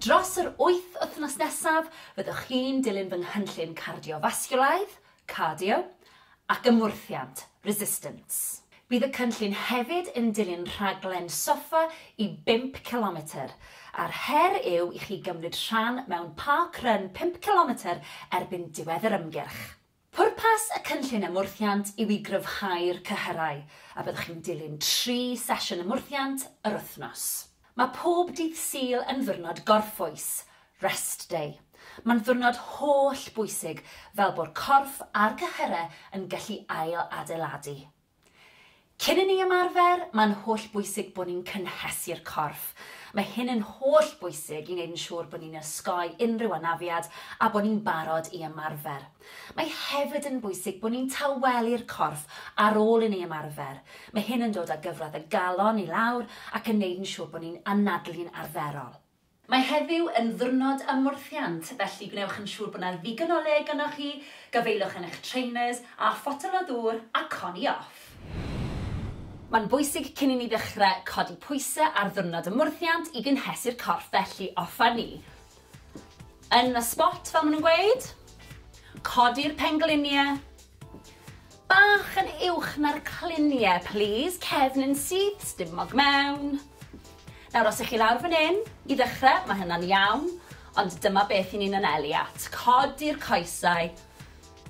Dros yr wyth wythnos nesaf, fyddwch chi'n dilyn fy nghynllun cardiofasgiwlaidd, cardio, ac ymwrthiant, resistance. Bydd y cynllun hefyd yn dilyn rhaglen soffa i bump cilometr, a'r her yw i chi gymryd rhan mewn park run pump cilometr erbyn diwedd yr ymgyrch. Pwrpas y Cynllun Ymwrthiant yw i gryfhau'r cyhyrau, a byddwch chi'n dilyn tri sesiwn ymwrthiant yr wythnos. Mae pob dydd Sul yn ddiwrnod gorffwys, Rest Day. Mae'n ddiwrnod holl bwysig fel bo'r corff a'r cyhyrau yn gallu ail-adeiladu. Cyn i ni ymarfer, mae'n holl bwysig bod ni'n cynhesu'r corff. Mae hyn yn holl bwysig i wneud yn siŵr bod ni'n osgoi unrhyw anafiad a bod ni'n barod i ymarfer. Mae hefyd yn bwysig bod ni'n tawelu'r corff ar ôl i ni ymarfer. Mae hyn yn dod â gyfradd y galon i lawr ac yn wneud yn siŵr bod ni'n anadlu'n arferol. Mae heddiw yn ddiwrnod ymwrthiant, felly gwnewch yn siŵr bod 'na ddigon o le gynnoch chi, gafaelwch yn eich trainers, a photel o ddŵr a coni off! Mae'n bwysig cyn i ni ddechrau codi pwysau ar ddiwrnod ymwrthiant i gynhesu'r corff, felly offer ni yn y sbot fel maen nhw'n gweud, codi'r pengliniau, Bach yn uwch na'r clunie plîs, cefn yn syth, stumog mewn. Nawr os 'ych chi lawr fan 'yn, i ddechre, ma' hynna'n iawn, ond dyma beth 'yn ni'n anelu at, codi'r coesau,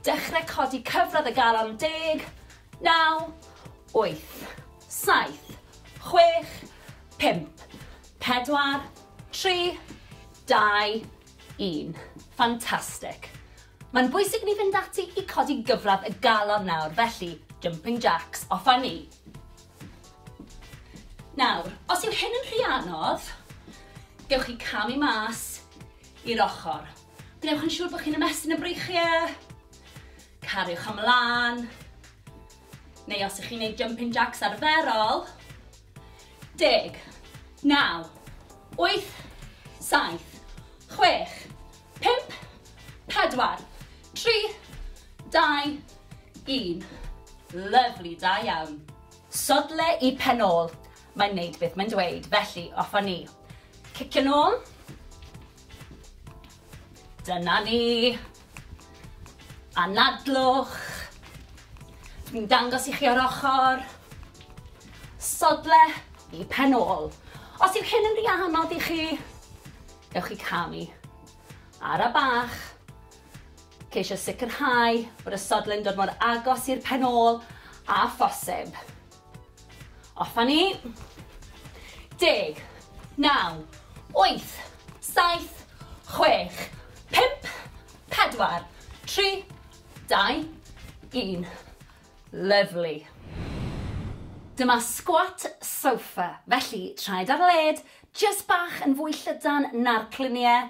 dechre codi cyfradd y galon, deg, naw, wyth, saith, chwech, pump, pedwar, tri, dau, un. Fantastic! Mae'n bwysig i ni fynd ati i codi gyfradd y galon nawr, felly, jumping jacks, off â ni! Nawr, os yw hyn yn rhy anodd, gewch chi camu mas i'r ochr. Gwnewch yn siŵr bod chi'n ymestyn y breichiau, cariwch ymlaen, neu os ych chi'n gwneud jumping jacks arferol, Deg. Naw. Wyth. Saith. Chwech. Pump. Pedwar. Tri. Dau. Un. Lyfli, da iawn. Sodle i pen ôl. Mae'n neud beth mae'n dweud, felly off a ni. Cicio nôl. Dyna ni. Anadlwch. Dwi'n dangos i chi o'r ochr. Sodle i pen ôl. Os yw hyn yn rhy anodd i chi, gewch chi camu. Ara bach. Ceisio sicrhau bod y sodle'n dod mor agos i'r pen ôl a phosib. Off a ni. Deg. Naw. Wyth. Saith. Chwech. Pump. Pedwar. Tri. Dau. Un. Lyfli. Dyma squat sofa, felly traed ar led, jyst bach yn fwy llydan na'r cluniau,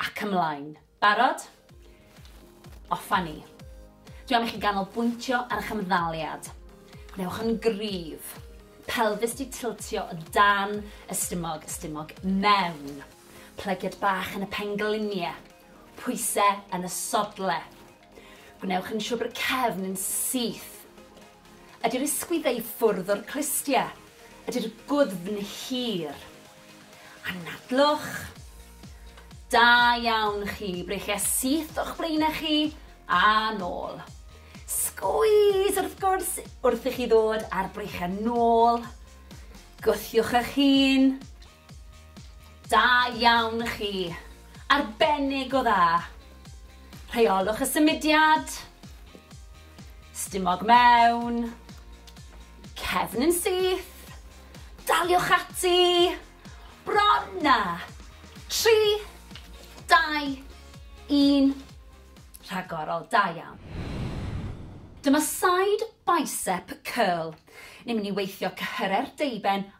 Ac ymlaen. Barod? Off a ni. Dwi am i chi ganolbwyntio ar eich ymddaliad. Gwnewch yn gryf. Pelfis di tiltio o dan y stumog, y stumog mewn. Plygiad bach yn y penglinie. Pwyse yn y sodle. Gwnewch yn siwr bod y cefn yn syth. Ydy'r ysgwyddau i ffwrdd o'r clustiau. Ydy'r gwddfn hir. Anadlwch. Da iawn chi. Breichiau syth o'ch blaenau chi a nôl. Sgwys wrth gwrs wrth i chi ddod a'r breichiau nôl. Gwthiwch eich hun. Da iawn chi. Arbennig o dda. Rheolwch y symudiad. Stumog mewn. Cefn yn syth. Daliwch ati. Bron na. 3, 2, 1. Rhagorol, da iawn. Dyma side bicep curl. Ni'n mynd i weithio cyhyre'r deuben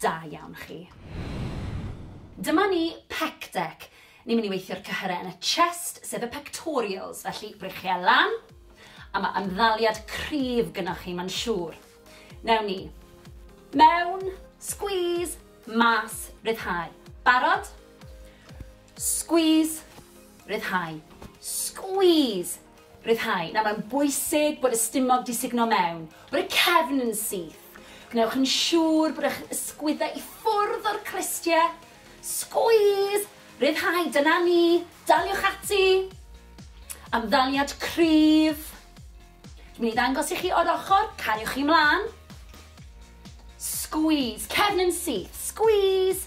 Da iawn chi. Dyma ni, pec deck. Ni'n mynd i weithio'r cyhyrau yn y chest, sef y pectorials, felly brichiau lan, a mae ymddaliad cryf gynnwch chi, mae'n siŵr. Newn ni. Mewn, squeeze, mas, ryddhau. Barod? Squeeze, ryddhau. Squeeze, Rhyddhau. Nawr, mae'n bwysig bod y stumog 'di sugno mewn, bod y cefn yn syth. Gwnewch yn siŵr bod eich ysgwyddau i ffwrdd o'r clustiau. Sgwîs! Rhyddhau, dyna ni! Daliwch ati! Ymddaliad cryf. Dwi'n mynd i ddangos i chi o'r ochr, cariwch chi mlaen. Sgwîs, cefn yn syth, sgwîs!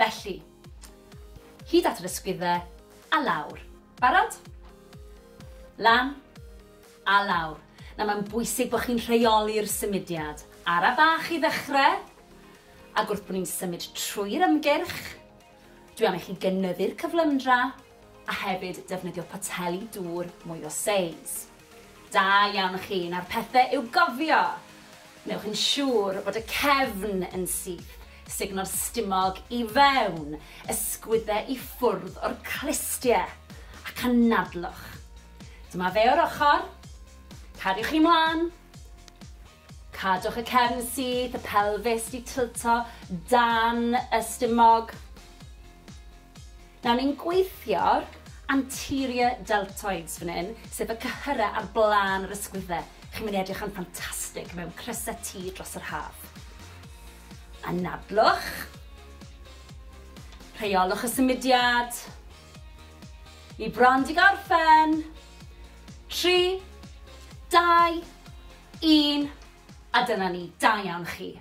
Felly, hyd at yr ysgwyddau, a lawr. Barod? Lan, a lawr. Nawr mae'n bwysig bod chi'n rheoli'r symudiad. Ara bach i ddechrau, ac wrth bod ni'n symud trwy'r ymgyrch, dwi am i chi gynyddu'r cyflymdra, a hefyd defnyddio poteli dŵr mwy o seis. Da iawn chi, nawr pethe i'w gofio! Wnewch yn siŵr bod y cefn yn syth, sugno'r stumog i fewn, ysgwydde i ffwrdd o'r clustie, ac anadlwch. Dyma fe o'r ochr, cariwch chi mlan, Cadwch y cefn syth, y pelfis di tilto dan y stumog. Nawr ni'n gweithio'r anterior deltoids fan hyn, sef y cyhyrau ar blaen yr ysgwyddau. Chi'n mynd i edrych yn ffantastig mewn crysau T dros yr haf. Anadlwch. Rheolwch y symudiad. Ni bron di gorffen. Tri, dau, Un, a dyna ni, da iawn chi.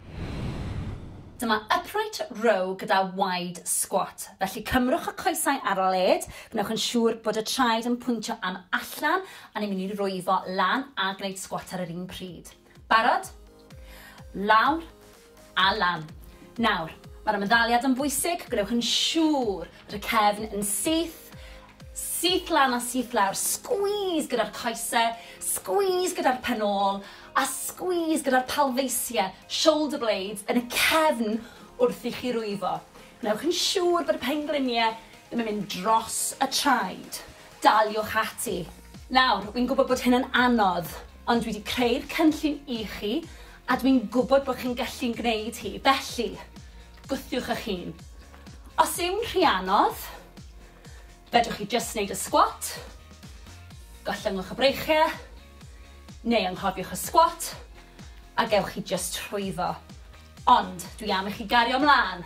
Dyma upright row gyda wide squat, felly cymrwch y coesau ar led, gwnewch yn siŵr bod y traed yn pwyntio am allan a ni'n mynd i rwyfo lan a gwneud squat ar yr un pryd. Barod? Lawr, A lan. Nawr, mae'r ymddaliad yn bwysig, gwnewch yn siŵr bod y cefn yn syth, syth lan a syth lawr, squeeze gyda'r coesau, squeeze gyda'r pen ôl, a squeeze gyda'r palfeisiau, shoulder blades, yn y cefn wrth i chi rwyfo. Gwnewch yn siŵr bod y pengliniau ddim yn mynd dros y traed. Daliwch ati! Nawr, wi'n gwybod bod hyn yn anodd, ond dwi 'di creu'r cynllun i chi, a dwi'n gwybod bod chi'n gallu'n gwneud hi, felly, gwthiwch eich hun. Os yw'n rhy anodd, fedrwch chi jyst wneud y sgwat, gollyngwch y breichiau, neu anghofiwch y sgwat, a gewch chi jyst trwyddo. Ond, dwi am i chi gario mlaen!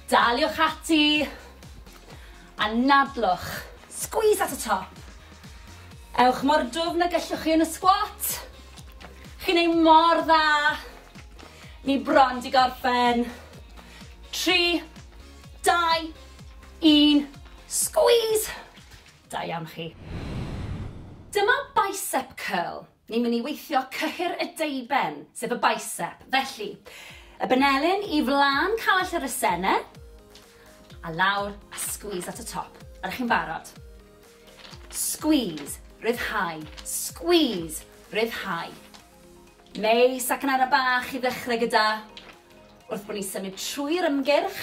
Daliwch ati! Anadlwch, squeeze at y top. Ewch mor dwfn y gellwch chi yn y squat. Chi'n ei mor dda. Ni bron di gorffen. 3, 2, 1, squeeze. Da iawn chi. Dyma bicep curl. Ni'n mynd i weithio cyhyr y deuben, sef y bicep. Felly, y benelin i flan call yr asene, a lawr, a squeeze at y top. Ydych chi'n barod? Squeeze, ryddhau, squeeze, ryddhau. Neis, ac yn ara bach i ddechrau gyda, wrth bod ni'n symud trwy'r ymgyrch,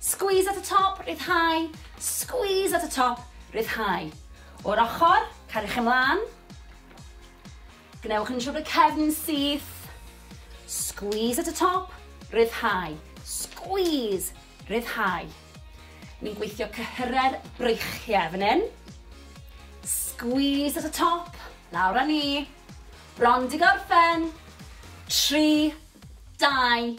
Squeeze at y top, rhyddhau, squeeze at y top, rhyddhau. O'r ochr, cariwch ymlaen. Gwnewch yn siŵr bod y cefn yn syth. Squeeze at y top, rhyddhau, squeeze, rhyddhau. Ni'n gweithio cyhyrau'r breichiau fan hyn. Squeeze at y top, lawr â ni. Bron di gorffen. 3, 2,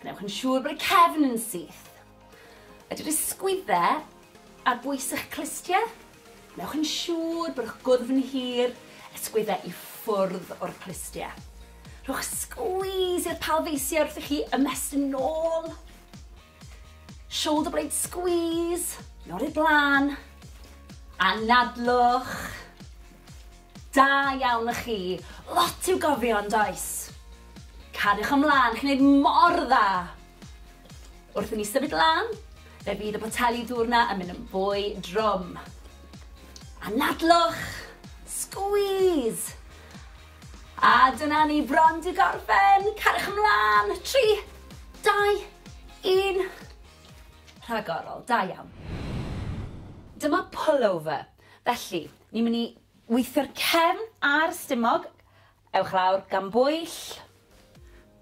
Gwnewch yn siŵr bod y cefn yn syth. Ydy'r ysgwydde ar bwys eich clustiau? Gwnewch yn siŵr bod eich gwddf yn hir, ysgwydde i ffwrdd o'r clustiau. Rhowch sgwys i'r palfeisiau wrth i chi ymestyn nôl. Shoulder blade squeeze, nod i'r blaen. Anadlwch. Da iawn y chi! Lot i'w gofio yn does? Cariwch ymlân, chi'n neud mor dda! Wrth i ni symud lan, fe fydd y poteli dŵr na yn mynd yn fwy drwm. Anadlwch! Squeeze! A dyna ni bron di gorffen! Cariwch ymlân! 3, 2, 1. Rhagorol, da iawn. Dyma pullover. Felly, ni'n mynd i weithio'r cefn a'r stumog. Ewch lawr, gan bwyll.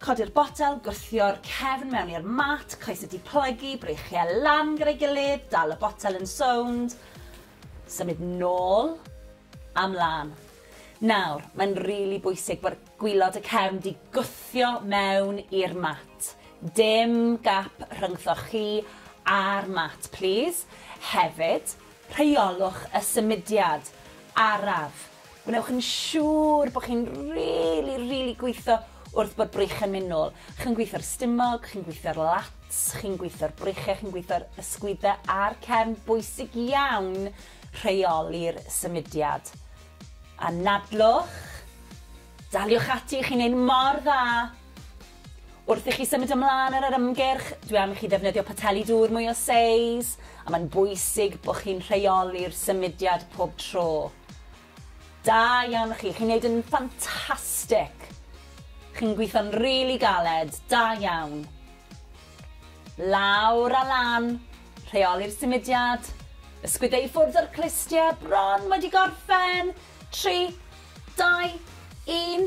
Codi'r botel, gwthio'r cefn mewn i'r mat, coesau di plygu, breichiau lan gyda'i gilydd, dal y botel yn sownd, symud nôl a mlan. Nawr, mae'n rili really bwysig bod gwylod y cefn di gwthio mewn i'r mat. Dim gap rhyngthoch chi a'r mat, plîs. Hefyd, Rheolwch y symudiad araf. Gwnewch yn siŵr bod chi'n rili, rili gweithio wrth bod breichiau'n mynd nôl. Chi'n gweithio'r stumog, chi'n gweithio'r lats, chi'n gweithio'r breichiau, chi'n gweithio'r ysgwyddau a'r cefn. Bwysig iawn rheoli'r symudiad. Anadlwch. Daliwch ati, chi'n neud mor dda. Wrth i chi symud ymlaen ar yr ymgyrch, dwi am i chi ddefnyddio poteli dŵr mwy o seis, a mae'n bwysig bod chi'n rheoli'r symudiad pob tro. Da iawn chi, chi'n neud yn ffantastic! Chi'n gweithio'n rili galed, da iawn! Lawr a lan, rheoli'r symudiad, ysgwydde i ffwrdd o'r clustiau, bron wedi gorffen, tri, dau, un.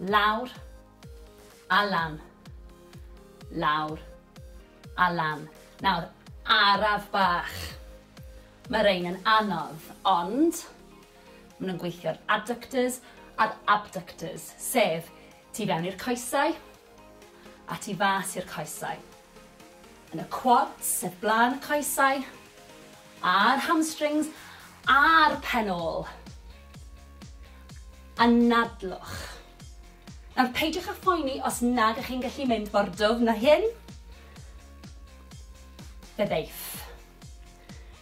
Lawr a lan. Lawr a lan. Nawr, araf bach. Mae rhein yn anodd, ond maen nhw'n gweithio'r adductors a'r abductors, sef tu fewn i'r coesau, a tu fas i'r coesau. Yn y quads sef blaen y coesau, a'r hamstrings, a'r pen ôl. Anadlwch. Nawr peidiwch â phoeni os nad ych chi'n gallu mynd mor dwfn na hyn. Fe ddeiff.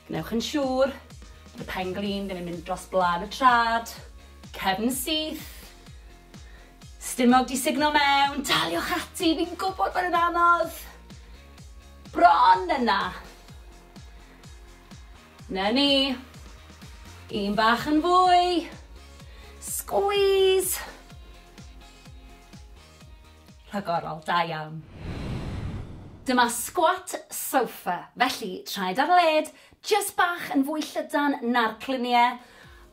Gwnewch yn siŵr bod y pen glin ddim yn mynd dros blaen y trad, cefn syth, Stumog 'di sugno mewn! Daliwch ati, fi'n gwybod bod yn anodd! Bron yna! Na ni! Un bach yn fwy! Squeeze! Rhagorol, da iawn. Dyma squat sofa, felly traed ar led, jyst bach yn fwy llydan na'r clunie,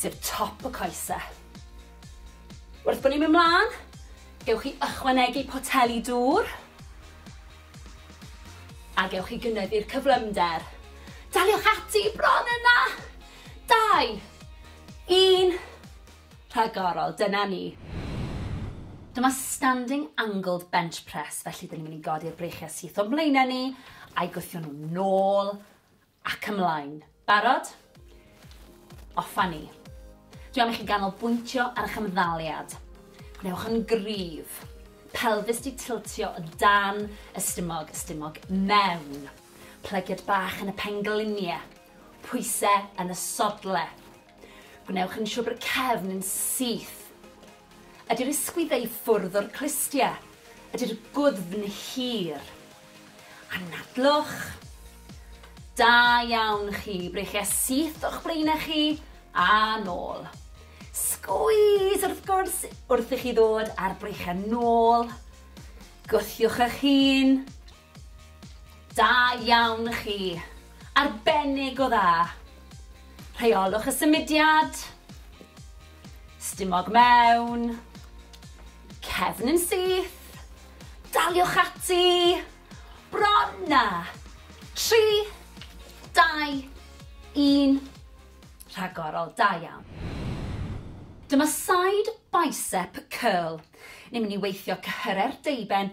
sef top y coese. Wrth bod ni'n mynd mlaen, gewch chi ychwanegu poteli dŵr a gewch chi gynyddu'r cyflymder. Daliwch ati bron yna! Dau, un, rhagorol, dyna ni. Dyma standing angled bench press, felly dyn ni'n mynd i godi'r breichiau syth o'n blaenau ni, a'i gwthio nhw'n nôl Ac ymlaen. Barod? Off a ni. Dwi am i chi ganolbwyntio ar eich ymddaliad. Gwnewch yn gryf. Pelfis di tiltio o dan y stumog, y stumog mewn. Plygiad bach yn y penglinie. Pwyse yn y sodle. Gwnewch yn siwr bod y cefn yn syth. Ydy'r ysgwyddau i ffwrdd o'r clustia? Ydy'r gwddfn hir? Anadlwch. Da iawn chi, breichia syth o'ch blaenau chi a nôl. Sgwys wrth gwrs wrth i chi ddod a'r breichiau nôl. Gwthiwch eich hun. Da iawn chi! Arbennig o dda! Rheolwch y symudiad. Stumog mewn. Cefn yn syth. Daliwch ati. Bron na! 3, 2, 1. Rhagorol, da iawn. Dyma side bicep curl. Ni'n mynd i weithio cyhyrau'r deuben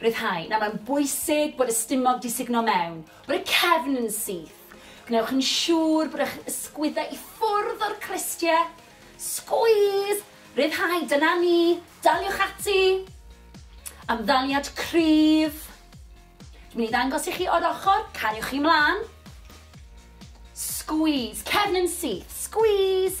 Rhyddhau. Nawr, mae'n bwysig bod y stumog 'di sugno mewn, bod y cefn yn syth. Gwnewch yn siŵr bod eich ysgwyddau i ffwrdd o'r clustie. Sgwîs! Rhyddhau, dyna ni! Daliwch ati! Ymddaliad cryf. Dwi'n mynd i ddangos i chi o'r ochr, cariwch chi mlaen. Sgwîs, cefn yn syth, sgwîs!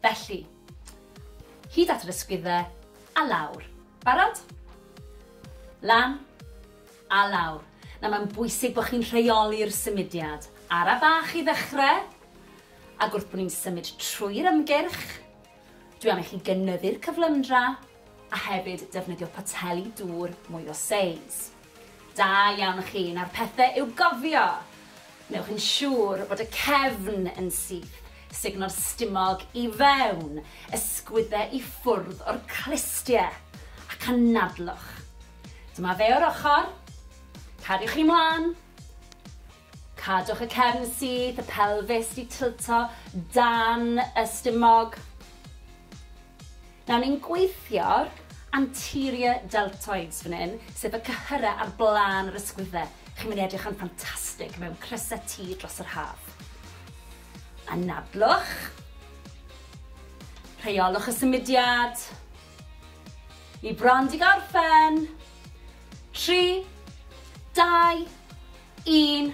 Felly, hyd at yr ysgwyddau, a lawr. Barod? Lan, a lawr. Nawr mae'n bwysig bod chi'n rheoli'r symudiad. Ara bach i ddechrau, ac wrth bod ni'n symud trwy'r ymgyrch, dwi am i chi gynyddu'r cyflymdra, a hefyd defnyddio poteli dŵr mwy o seis. Da iawn chi, nawr pethe i'w gofio! Wnewch yn siŵr bod y cefn yn syth, sugno'r stumog i fewn, ysgwydde i ffwrdd o'r clustie, ac anadlwch. Dyma fe o'r ochr, cadwch chi mlan, Cadwch y cefn syth, y pelfis 'di tilto dan y stumog. Nawr ni'n gweithio'r anterior deltoids fan hyn, sef y cyhyrau ar blaen yr ysgwyddau. Chi'n mynd i edrych yn ffantastig mewn crysau T dros yr haf. Anadlwch. Rheolwch y symudiad. Ni bron di gorffen. Tri, dau, Un,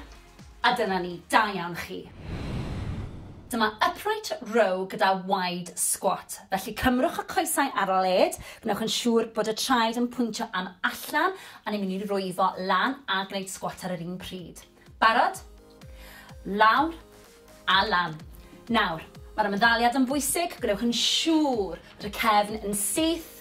a dyna ni, da iawn chi. Dyma upright row gyda wide squat, felly cymrwch y coesau ar led, gwnewch yn siŵr bod y traed yn pwyntio am allan a ni'n mynd i rwyfo lan a gwneud squat ar yr un pryd. Barod? Lawr, Allan. Nawr, mae'r ymddaliad yn bwysig, gwnewch yn siŵr bod y cefn yn syth,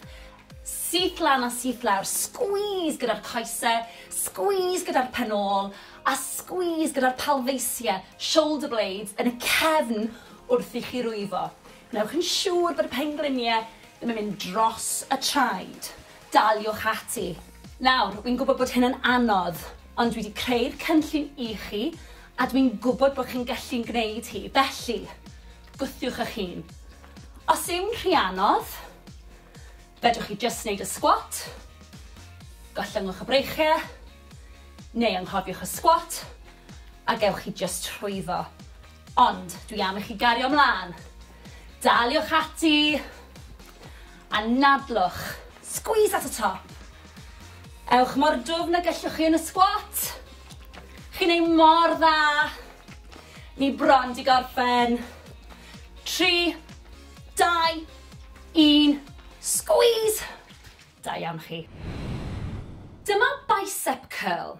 syth lan a syth lawr, squeeze gyda'r coesau, squeeze gyda'r pen ôl, a squeeze gyda'r palfeisiau, shoulder blades, yn y cefn wrth i chi rwyfo. Gwnewch yn siŵr bod y pengliniau ddim yn mynd dros y traed. Daliwch ati! Nawr, wi'n gwybod bod hyn yn anodd, ond dwi 'di creu'r cynllun i chi, a dwi'n gwybod bod chi'n gallu'n gwneud hi, felly, gwthiwch eich hun. Os yw'n rhy anodd, fedrwch chi jyst wneud y sgwat, gollyngwch y breichiau, neu anghofiwch y sgwat, a gewch chi jyst trwyddo. Ond, dwi am i chi gario mlaen! Daliwch ati! Anadlwch, squeeze at y top. Ewch mor dwfn y gellwch chi yn y squat. Chi'n ei mor dda. Ni bron di gorffen. 3, 2, 1, squeeze. Da iawn chi. Dyma bicep curl.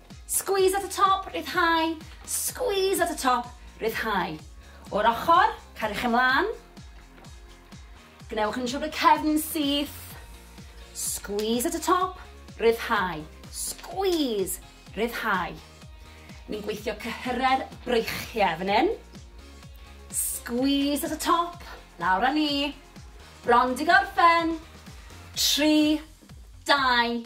Squeeze at the top, rhyddhau, squeeze at the top, rhyddhau. O'r ochr, cariwch ymlaen. Gwnewch yn siŵr bod y cefn yn syth. Squeeze at the top, rhyddhau, squeeze, rhyddhau. Ni'n gweithio cyhyrau'r breichiau fan hyn. Squeeze at the top, lawr â ni. Bron di gorffen. 3, 2,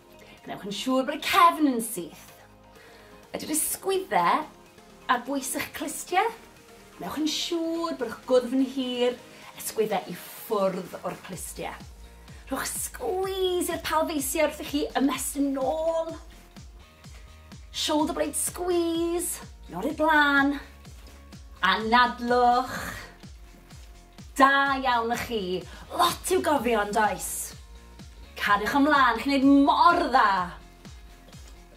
Gwnewch yn siŵr bod y cefn yn syth. Ydy'r ysgwydde ar bwys eich clustiau? Gwnewch yn siŵr bod eich gwddf yn hir, ysgwydde i ffwrdd o'r clustiau. Rhowch sgwys i'r palfeisiau wrth i chi ymestyn nôl. Shoulder blade squeeze, nod i'r blaen. Anadlwch. Da iawn y chi! Lot i'w gofio yn does? Cariwch ymlân, chi'n neud mor dda!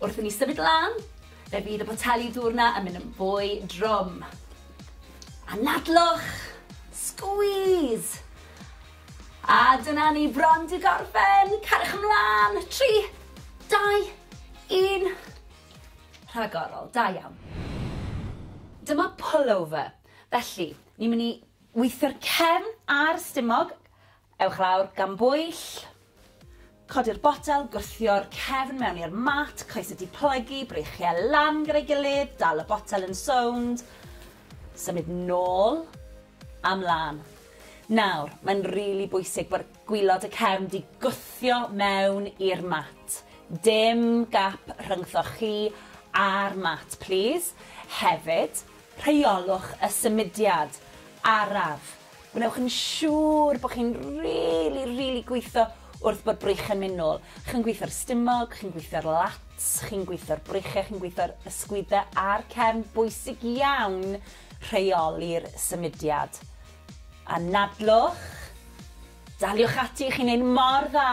Wrth i ni symud lan, fe fydd y poteli dŵr na yn mynd yn fwy drwm. Anadlwch! Sgwîs! A dyna ni bron di gorffen! Cariwch ymlân! Tri, dau, un. Rhagorol, da iawn. Dyma pullover. Felly, ni'n mynd i weithio'r cefn a'r stumog. Ewch lawr gan bwyll. Codi'r botel, gwthio'r cefn mewn i'r mat, coesau diplygu, breichiau lan gyda'i gilydd, dal y botel yn sownd, symud nôl a mlaen. Nawr, mae'n rili really bwysig bod gwylod y cefn di gwthio mewn i'r mat. Dim gap rhyngthoch chi a'r mat, plîs. Hefyd, Rheolwch y symudiad araf. Gwnewch yn siŵr bod chi'n rili, rili gweithio wrth bod brych yn mynd nôl. Chi'n gweithio'r stumog, chi'n gweithio'r lats, chi'n gweithio'r breichiau, chi'n gweithio'r ysgwyddau a'r cefn. Bwysig iawn rheoli'r symudiad. Anadlwch. Daliwch ati, chi'n neud mor dda.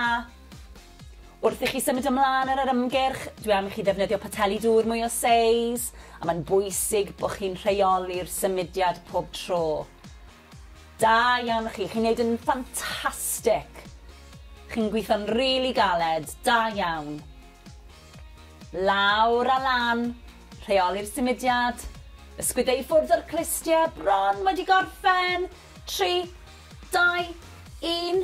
Wrth i chi symud ymlaen ar yr ymgyrch, dwi am i chi ddefnyddio poteli dŵr mwy o seis, a mae'n bwysig bod chi'n rheoli'r symudiad pob tro. Da iawn chi, chi'n neud yn ffantastic! Chi'n gweithio'n rili galed, da iawn! Lawr a lan, rheoli'r symudiad, ysgwydde i ffwrdd o'r clustie, bron wedi gorffen, tri, dau, un.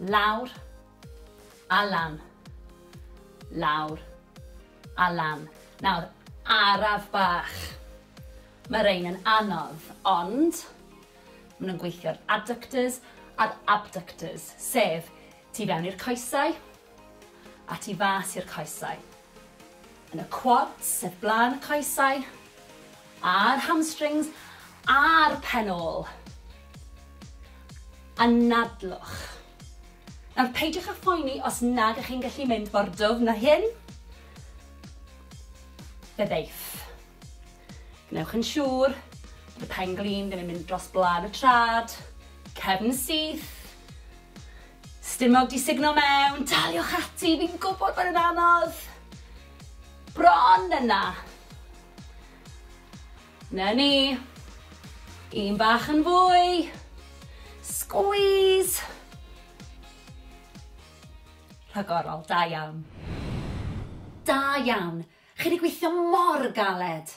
Lawr a lan. Lawr a lan. Nawr, araf bach. Mae rhein yn anodd, ond maen nhw'n gweithio'r adductors a'r abductors, sef tu fewn i'r coesau, a tu fas i'r coesau. Yn y quads o blaen y coesau, a'r hamstrings, a'r pen ôl. Anadlwch. Nawr peidiwch â phoeni os nad ych chi'n gallu mynd mor dwfn na hyn. Fe ddeiff. Gwnewch yn siŵr bod y pen glin ddim yn mynd dros blaen y trad, cefn syth, Stumog 'di sugno mewn! Daliwch ati, fi'n gwybod bod e'n anodd! Bron yna! Na ni! Un bach yn fwy! Squeeze! Rhagorol, da iawn. Da iawn! Chi 'di gweithio mor galed!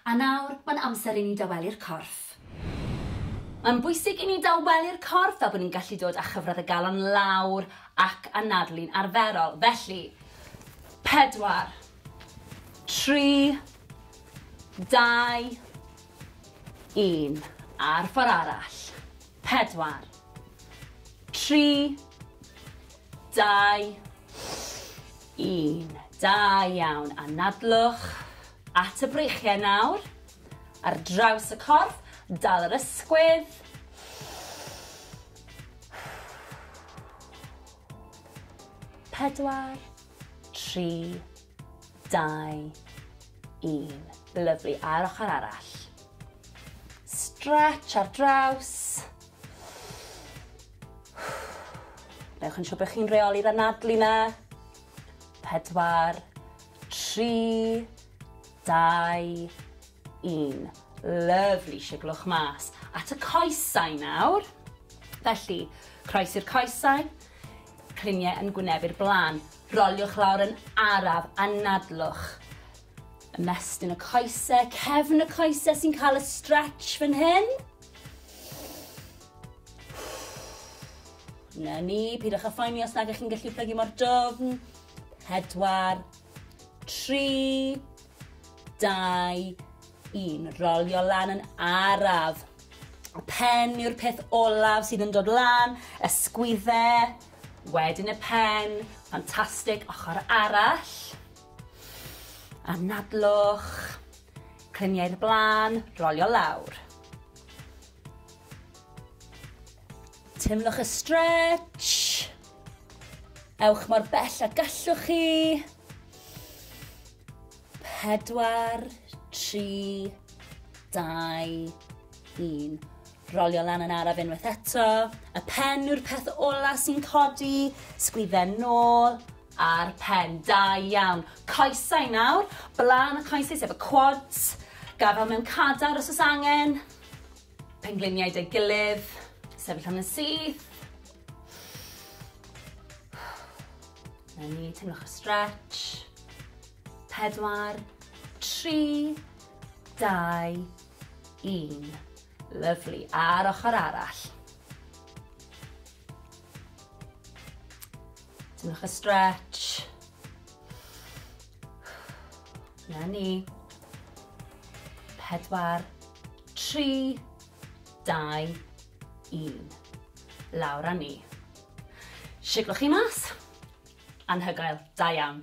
A nawr, mae'n amser i ni dawelu'r corff. Mae'n bwysig i ni dawelu'r corff fel bod ni'n gallu dod â chyfradd y galon lawr ac anadlu'n arferol. Felly, pedwar, tri, dau, un. A'r ffordd arall. Pedwar, tri, dau, un. Da iawn. Anadlwch. At y breichiau nawr. Ar draws y corff, dal yr ysgwydd. Pedwar, tri, dau, un. Lyflu, a'r ochr arall. Stretch ar draws. Newch yn siŵr bod chi'n reoli'r anadlu na. 4, 3, 2, 1. Lyfli, siglwch mas. At y coesau nawr. Felly, croes i'r coesau, criniau yn gwynebu'r blaen. Roliwch lawr yn araf, anadlwch. Ymestyn y coesau, cefn y coesau sy'n cael y stretch fan hyn. Na ni, pidwch â phoeni os nag ych chi'n gallu plygu mor dofn. Pedwar, tri, dau, un. Rolio lan yn araf. Y pen yw'r peth olaf sydd yn dod lan, ysgwydde, wedyn y pen, ffantastig, ochr arall. Anadlwch, clyniau'r blaen, rolio lawr. Teimlwch y stretch. Ewch mor bell a gallwch chi. Pedwar, tri, dau, un. Rolio lan yn araf unwaith eto. Y pen yw'r peth ola sy'n codi. Sgwydden nôl a'r pen. Da iawn. Coesau nawr. Blaen y coesau sef y quads. Gafel mewn cadar os oes angen. Pengliniau 'da'i gilydd, sefyll am yn syth. Na ni, teimlwch y stretch. Pedwar, tri, dau, un. Lyflu. A'r ochr arall. Teimlwch y stretch. Na ni. Pedwar, tri, dau, un. Lawr a ni. Siglwch chi mas. Anhygoel. Da iawn.